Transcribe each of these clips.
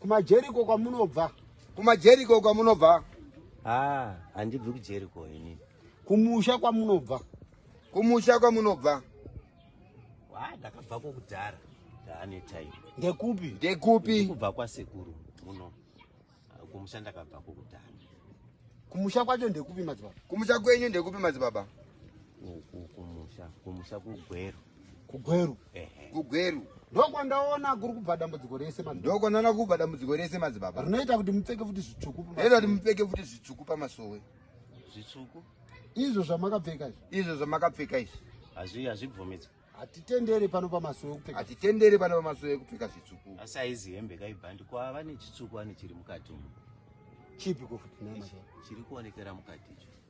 kumajeriko kwamunobva kumajeriko kwamunobva ah handibvi kujeriko ini kumusha kwamunobva kumusha kwamunobva wa ndakabva kokudhara ndaane time ndekupi ndekupi kubva kwasekuru muno ah, kumusha ndakabva kokudhara kumusha kwacho ndekupi madzibaba kumusha kwenyu ndekupi madzibaba kumusha kumusha kugwero kugweru kugweru ndokwandaona kuri kubva dambudziko rese ndokwandaona kubva dambudziko rese madzibaba rinoita kuti mupfeke futi zvitsvuku rinoita kuti mupfeke futi zvitsvuku pamasowe zvitsvuku izvo zvamakapfeka izvi izvo zvamakapfeka izvi hazvi hazvibvumidzwe hatitendere pano pamasowe kupfeka hatitendere pano pamasowe kupfeka zvitsvuku asi aizi hembe kaibhandi kwava nechitsvuku ane chiri mukati umu chipi kofuti chiri kuonekera mukati icho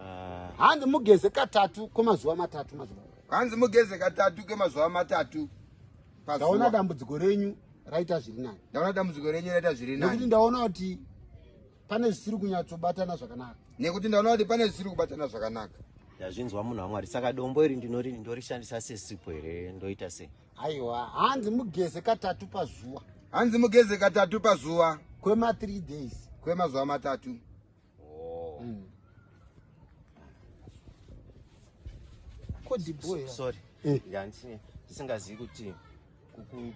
Ah. hanzi mugeze katatu kwemazuva matatu mazuva hanzi mugeze katatu kwemazuva matatu ndaona dambudziko renyu raita zviri nani ndaona dambudziko renyu raita zviri nani nekuti ndaona kuti pane zvisiri kunyatsobatana zvakanaka nekuti ndaona kuti pane zvisiri kubatana zvakanaka ndazvinzwa munhu wamwari saka dombo iri ndinori ndorishandisa sesipo here ndoita sei aiwa hanzi mugeze katatu pazuva hanzi mugeze katatu pazuva kwema3 days kwemazuva matatu Oh. Mm. Kodi boy. Sorry. Eh. Ndandine singazivi kuti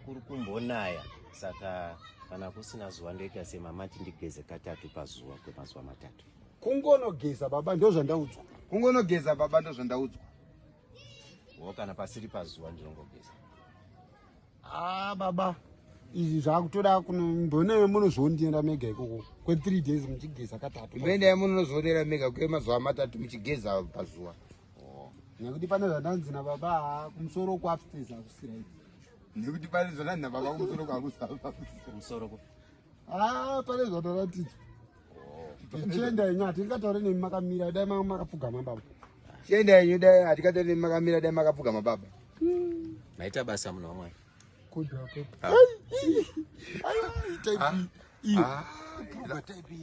kuri kumbonaya saka kana kusina zuva ndoita semama tindigeze katatu pazuva kwemazuva matatu. Kungonogeza baba ndozvandaudzwa. Kungonogeza baba ndozvandaudzwa. Wo kana pasiri pazuva ndinongogeza. Ah baba izvi zvakutoda kunomboneve munozondienda mega ikoko kwethree days muchigeza katatu mboendai munozondienda mega kwemazuva matatu muchigeza pazuva oh. nekuti pane zvandanzi nababa kumusoro kuupstairs akusiraii nekuti pane zvandanzi nababa kumusoro kwakusamusoro ah pane zvataratidzwa Chienda yenyu hatingataure nemi makamira dai manga makapfugama baba. Chienda yenyu dai hatingataure nemi makamira dai makapfugama baba. Maita basa munhu wamwari. Kudhako. Ah. Aiwa type ah. iyo. Ah. Type iyo.